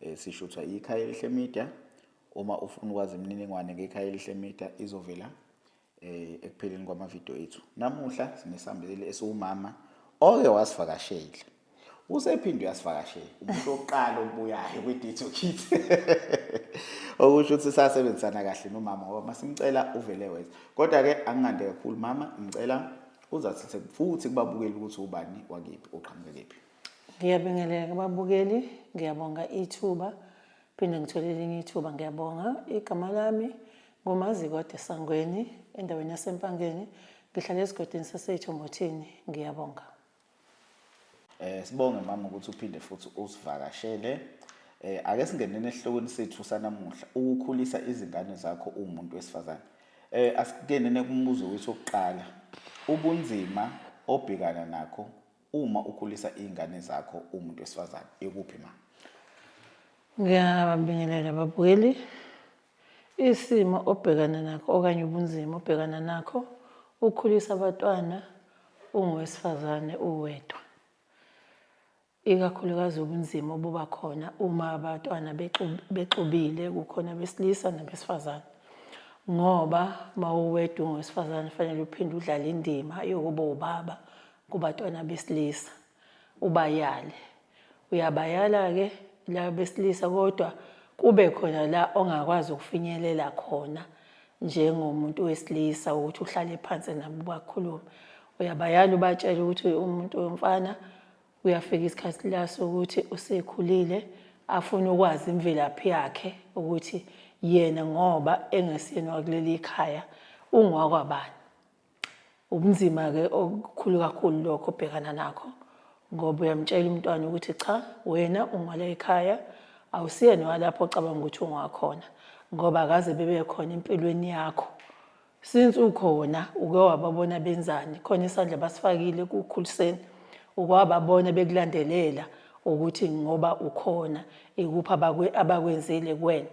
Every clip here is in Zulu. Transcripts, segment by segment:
Eh, sishuthwa ikhaya elihle media uma ufuna ukwazi imininingwane ngekhaya elihle media izovela eh, ekupheleni kwamavidiyo ethu namuhla sinesambeleli esiwumama oke wasivakashela usephinde uyasivakashela umuntu wokuqala obuyayo kwi-dito kit okusho ukuthi sasebenzisana kahle nomama ngoba masimcela uvele weza kodwa-ke angingande kakhulu mama ngicela uzathithe futhi kubabukeli ukuthi ubani wakephi uqhamuke kephi Ngiyabingelela kubabukeli, ngiyabonga ithuba. Phinde ngithole elinye ithuba, ngiyabonga. Igama lami nguMazikwade Sangweni, endaweni yaseMpangeni. Ngihlala esigodini saseYithombothini. Ngiyabonga. Eh sibonge mama ukuthi uphinde futhi usivakashele. Eh ake singenene esihlokweni sethu sanamuhla, ukukhulisa izingane zakho umuntu wesifazane. Eh asikenene kumbuzo wethu wokuqala. Ubunzima obhekana nakho Uma ukhulisa izingane zakho umuntu wesifazane ikuphi ma? Ngiyabingelela babukeli. Isimo obhekana nakho okanye ubunzima obhekana nakho ukhulisa abatwana ungowesifazane uwedwa. Ikakhulukazi ubunzima obuba khona uma abatwana bexubile kukhona besilisa nabesifazane. Ngoba mawuwedwa ungowesifazane fanele uphinde udlale indima yokuba ubaba kubatwana besilisa ubayale uyabayala-ke laba besilisa kodwa kube khona la ongakwazi ukufinyelela khona njengomuntu wesilisa ukuthi uhlale phansi nabo bakhulume uyabayala ubatshela ukuthi umuntu womfana uyafika isikhathi la sokuthi usekhulile afune ukwazi imvelaphi yakhe ukuthi yena ngoba engesiyena wakuleli khaya ungowakwabani ubunzima-ke okukhulu kakhulu lokho obhekana nakho ngoba uyamtshela umntwana ukuthi cha wena ungwala ekhaya awusiyena walapho ocabanga ukuthi ungakhona ngoba akaze bebekhona empilweni yakho since ukhona uke wababona benzani khona isandla basifakile kukhuliseni ukwababona bekulandelela ukuthi ngoba ukhona ikuphi abakwenzile kuwena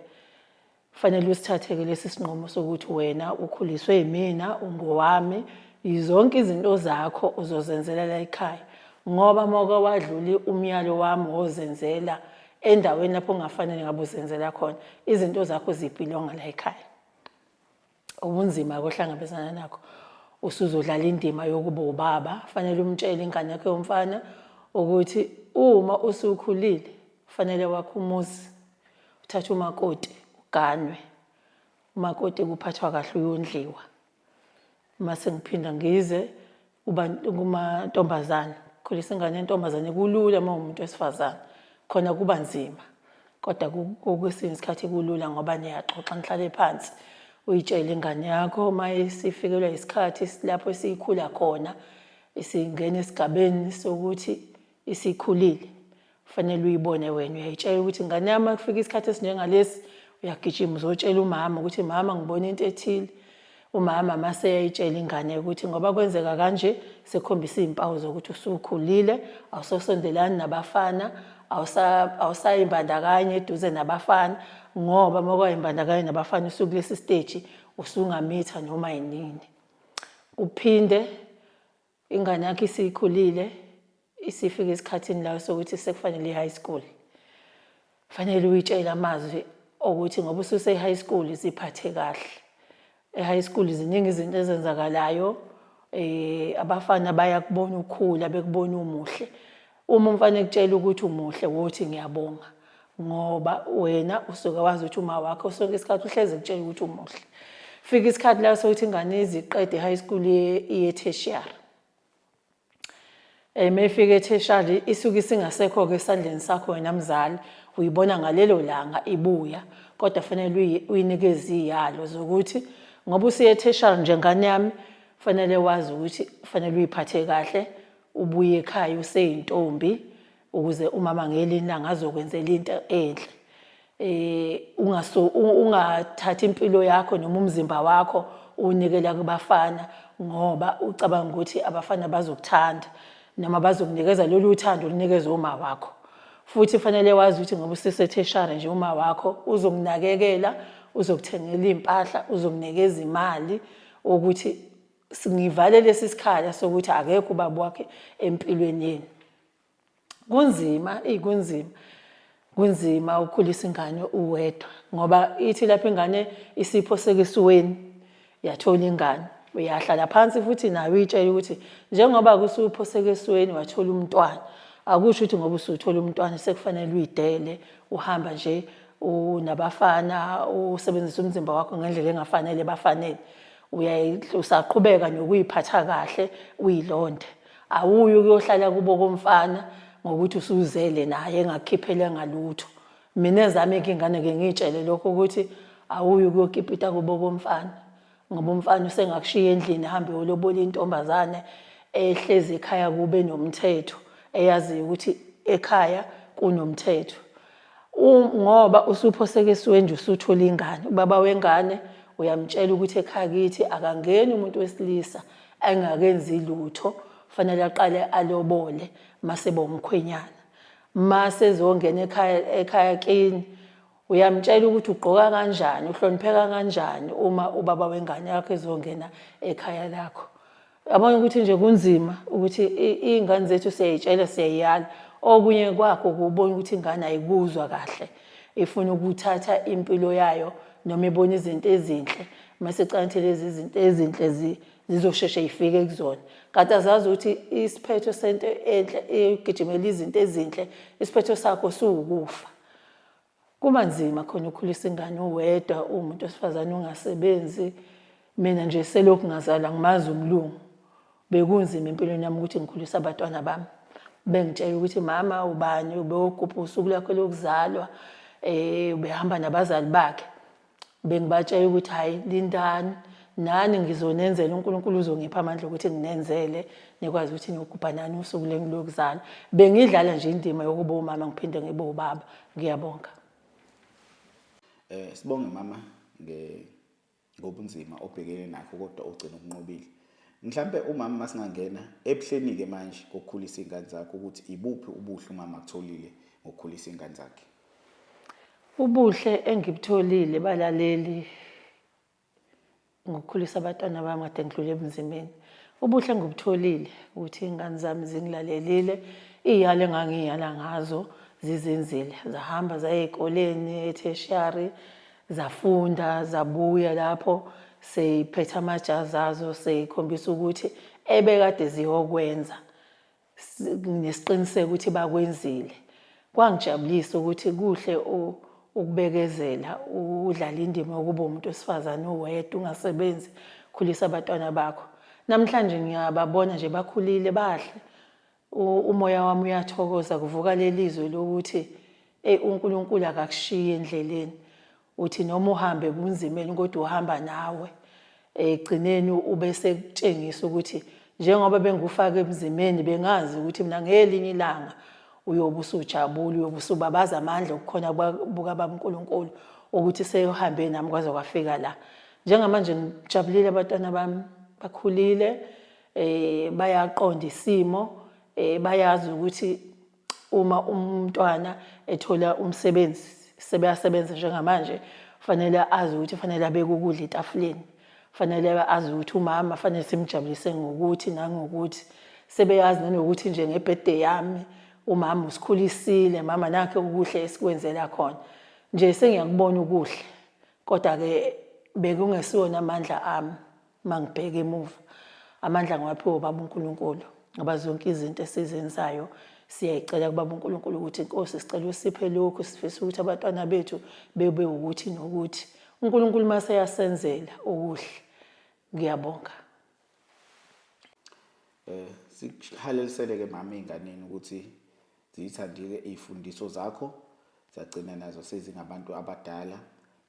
Fanele usithathe-ke lesi sinqumo sokuthi wena ukhuliswe yimina, ungowami, yizonke izinto zakho uzozenzela la ekhaya. Ngoba uma uke wadlula umyalo wami wozenzela endaweni lapho ungafanele ngabe uzenzela khona, izinto zakho zibhilonga la ekhaya. ubunzima akohlangabezana nakho usuzodlala indima yokuba ubaba fanele umtshele ingane yakhe yomfana ukuthi uma usukhulile fanele wakho umuzi uthathe umakoti uganwe umakoti kuphathwa kahle uyondliwa uma sengiphinda ngize kumantombazane khulisa ingane yentombazane kulula uma umuntu wesifazane khona kuba nzima kodwa kwesinye isikhathi kulula ngoba niyaxoxa nihlale phansi uyitshele ingane yakho uma isifikelwa isikhathi lapho esiyikhula khona isingena esigabeni sokuthi isikhulile fanele uyibone wena uyayitshela ukuthi ngane yami kufika isikhathi esinjengalesi uyagijima uzotshela umama ukuthi mama ngibona into ethile umama mase eyayitshela ingane ukuthi ngoba kwenzeka kanje sekhombisa izimpawu zokuthi usukhulile awusosondelani nabafana awusayimbandakanye eduze nabafana ngoba uma kwayimbandakanye nabafana usukulesi stage usungamitha noma yinini kuphinde Ingane yakhe isikhulile isifika esikhathini layo sokuthi sekufanele i-high school. Fanele uyitshele amazwi okuthi ngoba ususe-high school ziphathe kahle. E-high school ziningi izinto ezenzakalayo um abafana bayakubona ukhula bekubona umuhle. Uma umfana ekutshela ukuthi umuhle wothi ngiyabonga ngoba wena usuke wazi ukuthi uma wakho sonke isikhathi uhleze kutshela ukuthi umuhle fika isikhathi la sokuthi ingane iziqede high school iye tertiary eme eh, ifike tertiary isuke isingasekho ke esandleni sakho wena mzali uyibona ngalelo langa ibuya kodwa fanele uyinikeze iyalo zokuthi ngoba usiye tertiary njengane yami fanele wazi ukuthi fanele uyiphathe kahle ubuye ekhaya useyintombi ukuze umama ngelinye ilanga azokwenzela into enhle eh ungaso ungathathi impilo yakho noma umzimba wakho unikela kubafana ngoba ucabanga ukuthi abafana bazokuthanda noma bazokunikeza lolu uthando olunikeza uma wakho futhi fanele wazi ukuthi ngoba usesetheshare nje uma wakho uzokunakekela uzokuthengela impahla uzokunikeza imali ukuthi ngivale lesi sikhala sokuthi akekho ubaba wakhe empilweni yenu kunzima eyi kunzima kunzima ukukhulisa ingane uwedwa ngoba ithi lapho ingane isipho sekesiweni yathola ingane uyahlala phansi futhi nayo uyitshela ukuthi njengoba kusupho sekesiweni wathola umntwana akusho ukuthi ngoba usuthola umntwana sekufanele uyidele uhamba nje unabafana usebenzisa umzimba wakho ngendlela engafanele bafanele usaqhubeka nokuyiphatha kahle uyilonde awuyi ukuyohlala kubo komfana ngokuthi usuzele naye engakukhiphele ngalutho mina ezami ingane ke ngiyitshele lokho ukuthi awuyi ukuyokipita kubo komfana ngoba umfana usengakushiya endlini hambe yolobola intombazane ehlezi ekhaya kube nomthetho eyaziyo ukuthi ekhaya kunomthetho ngoba usuphoseke esiwenje usuthole ingane ubaba wengane uyamtshela ukuthi ekhaya kithi akangeni umuntu wesilisa engakenzi lutho fanele aqale alobole mase bomkhwenyana mase ezongena ekhaya ekhaya kini uyamtshela ukuthi ugqoka kanjani uhlonipheka kanjani uma ubaba wengane yakho ezongena ekhaya lakho Yabona ukuthi nje kunzima ukuthi iy'ngane zethu siyayitshela siyayiyala okunye kwakho kubona ukuthi ingane ayikuzwa kahle ifuna ukuthatha impilo yayo noma ibona izinto ezinhle mase canthe lezi zinto ezinhle zizosheshe ifike kuzona kanti azazi ukuthi isiphetho sento enhle igijimela izinto ezinhle isiphetho sakho siwukufa Kuba nzima khona ukhulisa ingane uwedwa uwumuntu wesifazane ungasebenzi mina nje selokhu ngazalwa ngimazi umlungu bekunzima empilweni yami ukuthi ngikhulise abatwana bami bengitshela ukuthi mama ubani ubewogubha usuku lakho lokuzalwa um ubehamba nabazali bakhe bengibatshela ukuthi hhayi lindani nani ngizonenzela uNkulunkulu uzongipha amandla ukuthi nginenzele nikwazi ukuthi niyogubha nani usuku lenu lokuzana bengidlala nje indima yokuba umama ngiphinde ngibe ubaba ngiyabonga eh sibonge mama nge ngobunzima obhekene nakho kodwa ugcina ukunqobile mhlambe umama masingangena ebuhleni ke manje kokukhulisa ingane zakhe ukuthi ibuphi ubuhle umama akutholile ngokukhulisa ingane zakhe Ubuhle engibutholile balaleli ngokukhulisa abantwana bami kade ngidlule ebunzimeni ubuhle engibutholile ukuthi iy'ngane zami zingilalelile iy'yalo engangiy'yala ngazo zizenzile zahamba zaya ey'koleni etheshiyari zafunda zabuya lapho seyiphethe amajazi azo seyikhombisa ukuthi ebekade ziyokwenza nginesiqiniseko ukuthi bakwenzile kwangijabulisa ukuthi kuhle ukubekezela udlala indima yokuba umuntu wesifazane uwedwa ungasebenzi khulisa abatwana bakho namhlanje ngiyababona nje bakhulile bahle umoya wami uyathokoza kuvuka lelizwe lokuthi hey uNkulunkulu akakushiye endleleni uthi noma uhambe ebunzimeni kodwa uhamba nawe ekugcineni ube sekutshengisa ukuthi njengoba bengikufaka ebunzimeni bengazi ukuthi mina ngelinye ilanga uyobe usujabula uyobe usubabaza amandla okukhona bukababa uNkulunkulu ukuthi seyohambe nami kwaze kwafika la njengamanje ngijabulile abantwana bami bakhulile eh bayaqonda isimo eh bayazi ukuthi Uma umntwana ethola umsebenzi sebeyasebenza njengamanje fanele azi ukuthi fanele abeke ukudla etafuleni fanele azi ukuthi umama fanele simjabulise ngokuthi nangokuthi sebeyazi nanokuthi nje ngebirthday yami umama usikhulisile mama nakhe ukuhle esikwenzela khona nje sengiyakubona ukuhle kodwa ke bekungesiwona amandla ami uma ngibheka emuva amandla ngiwaphiwe ubaba unkulunkulu ngoba zonke izinto esizenzayo siyayicela kubaba unkulunkulu ukuthi inkosi sicela usiphe lokhu sifisa ukuthi abatwana bethu bebe ukuthi nokuthi unkulunkulu uma seyasenzela okuhle ngiyabonga um eh, sikuhalelisele-ke mama ey'nganeni ukuthi Ziyithandile iy'fundiso zakho zagcina nazo sezingabantu abadala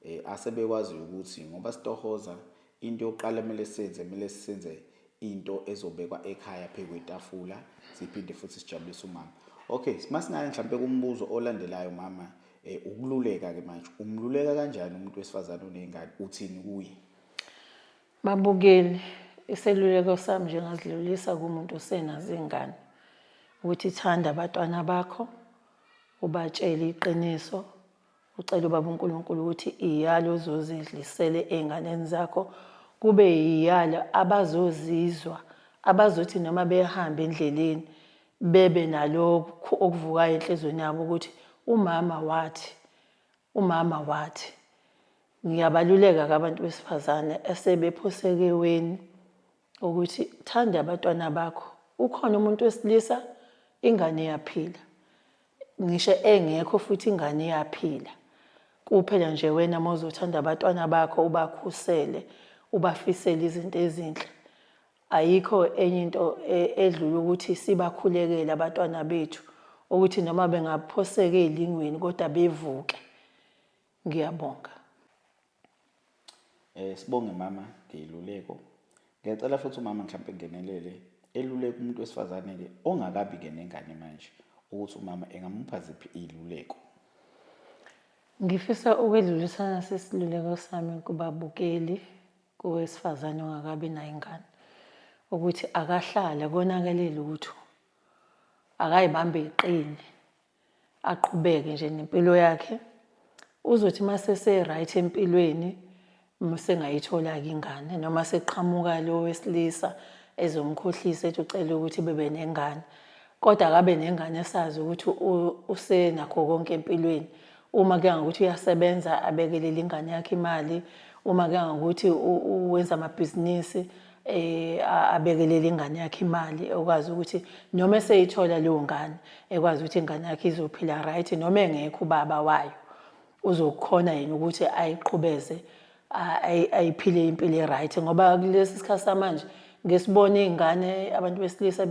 eh, asebekwaziyo ukuthi ngoba sitohoza into yokuqala kumele senze kumele senze into ezobekwa ekhaya phezu kwetafula siphinde futhi sijabulise umama okay masingaya mhlawumbe kumbuzo olandelayo mama eh, ukululeka ke manje umluleka kanjani umuntu wesifazane oneyngane uthini kuye Babukeli, iseluleko sami nje ngasidlulisa kumuntu osenazo izingane ukuthi thanda abatwana bakho ubatshele iqiniso ucela ubaba uNkulunkulu ukuthi iyalo ozozidlisele ezinganeni zakho kube iyalo abazozizwa abazothi noma behamba endleleni bebe nalokho okuvukayo enhlizweni yabo ukuthi umama wathi umama wathi Ngiyabaluleka ke abantu besifazane esebephosekeweni ukuthi thanda abatwana bakho. Ukhona umuntu wesilisa ingane iyaphila. Ngisho engekho futhi ingane iyaphila. Kuphela nje wena mawuzothanda abatwana bakho ubakhusele, ubafisele izinto ezinhle. Ayikho enye into e, edlula ukuthi sibakhulekele abatwana bethu ukuthi noma bengaphosekeli ingweni kodwa bevuke. Ngiyabonga. Eh sibonge mama ngeyiluleko. Ngiyacela futhi umama mhlawumbe ngenelele eluleka umuntu wesifazane ke ongakabi ke nengane manje ukuthi umama engamupha ziphi iziluleko. Ngifisa ukwedlulisa nasi isiluleko sami kubabukeli kowesifazane ongakabi nayo ingane ukuthi akahlale konakele lutho akayibambe iqini aqhubeke nje nempilo yakhe uzothi masese right empilweni musengayithola ke ingane noma seqhamuka lo wesilisa ezomkhohlisa ethi ucela ukuthi bebe nengane kodwa akabe nengane esazi ukuthi usenakho konke empilweni uma ke ngokuthi uyasebenza abekelele ingane yakhe imali uma ke ngokuthi wenza amabhizinisi eh abekelele ingane yakhe imali ekwazi ukuthi noma eseyithola leyo ngane ekwazi ukuthi ingane yakhe izophila right noma engekho ubaba wayo uzokhona yini ukuthi ayiqhubeze ayiphile impilo e-right ngoba kulesi sikhathi samanje ngesibona iy'ngane abantu besilisa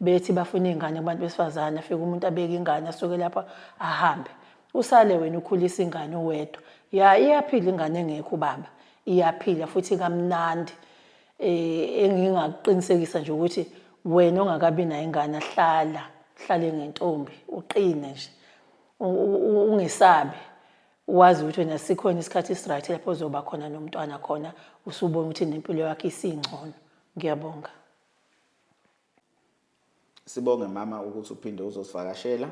bethi bafuna iy'ngane kubantu besifazane afike umuntu abeke ingane asuke lapha ahambe usale wena ukhulisa ingane uwedwa ya iyaphila ingane engekho ubaba iyaphila futhi kamnandi eh engingakuqinisekisa nje ukuthi wena ongakabi nayo ingane hlala hlale ngentombi uqine nje ungesabi wazi ukuthi wena sikhona isikhathi esiright lapho uzoba khona nomntwana khona usubona ukuthi nempilo yakhe isingcono ngiyabonga Sibonge mama ukuthi uphinde uzosivakashela.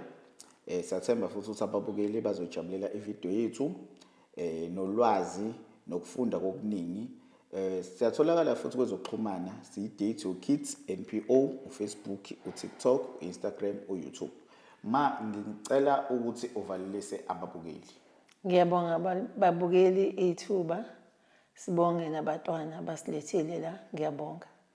Eh siyathemba futhi ukuthi ababukeli bazojabulela ivideo yethu eh nolwazi nokufunda kokuningi. Eh siyatholakala futhi kwezokuxhumana siyi-Date Your Kids NPO uFacebook, uTikTok, uInstagram, uYouTube. Ma ngicela ukuthi uvalelise ababukeli. Ngiyabonga babukeli ithuba. Sibonge nabatwana basilethile la. Ngiyabonga.